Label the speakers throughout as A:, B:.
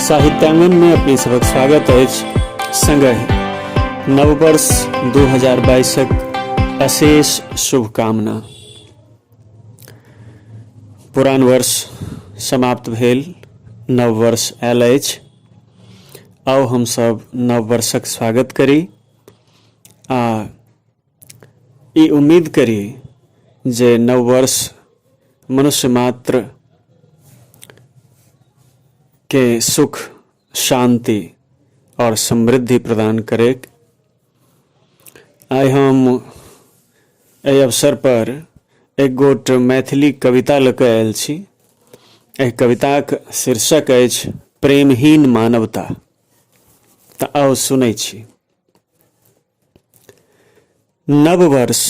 A: साहित्यांगन में अपनी सबक स्वागत अछि संगहि नववर्ष 2022क अशेष शुभकामना पुरान वर्ष समाप्त भेल नव वर्ष आयल अछि आउ हमसभ नव वर्षक स्वागत करी आ ई उम्मीद करी जे नव वर्ष मनुष्य मात्र के सुख शांति और समृद्धि प्रदान करे आइ हम एहि अवसर पर एक गोट मैथिली कविता लऽ कऽ आयल छी एहि कविताक शीर्षक अछि प्रेमहीन मानवता तऽ आउ सुनै छी नववर्ष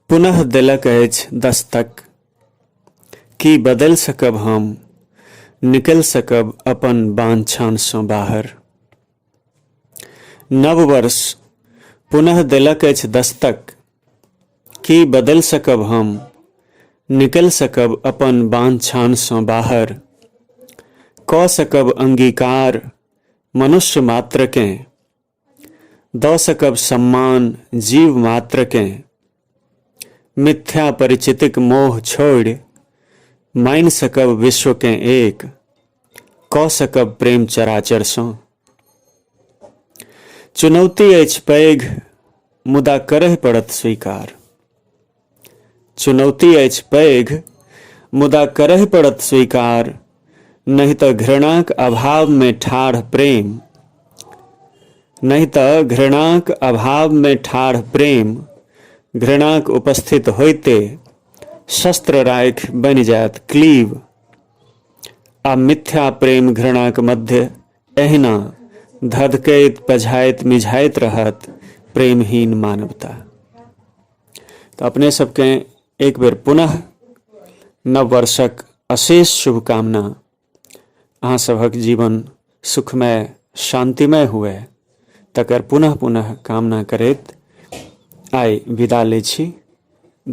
A: पुनः देलक अछि दस्तक की बदलि सकब हम निकलि सकब अपन बांछानसँ बाहर नववर्ष पुनः देलक अछि दस्तक की बदलि सकब हम निकलि सकब अपन बांछानसँ बाहर कऽ सकब अंगीकार मनुष्य मात्रकेँ दऽ सकब सम्मान जीव मात्रकेँ मिथ्या परिचितिक मोह छोड़ि मानि सकब विश्वकेँ एक कऽ सकब प्रेम चराचरसँ चुनौती अछि पैघ मुदा करय पड़त स्वीकार चुनौती अछि पैघ मुदा करय पड़त स्वीकार नहि तऽ घृणाक अभावमे ठाढ़ प्रेम नहि तऽ घृणाक अभावमे ठाढ़ प्रेम घृणाक उपस्थित होइते शस्त्र राखि बनि जायत क्लीव आ मिथ्या प्रेम घृणाक मध्य एहिना धधकैत पझाइत मिझाइत रहत प्रेमहीन मानवता तऽ अपने सबके एक बेर पुनः नव वर्षक अशेष शुभकामना अहाँ सभक जीवन सुखमय शान्तिमय हुए तकर पुनः पुनः कामना करैत आइ विदा लै छी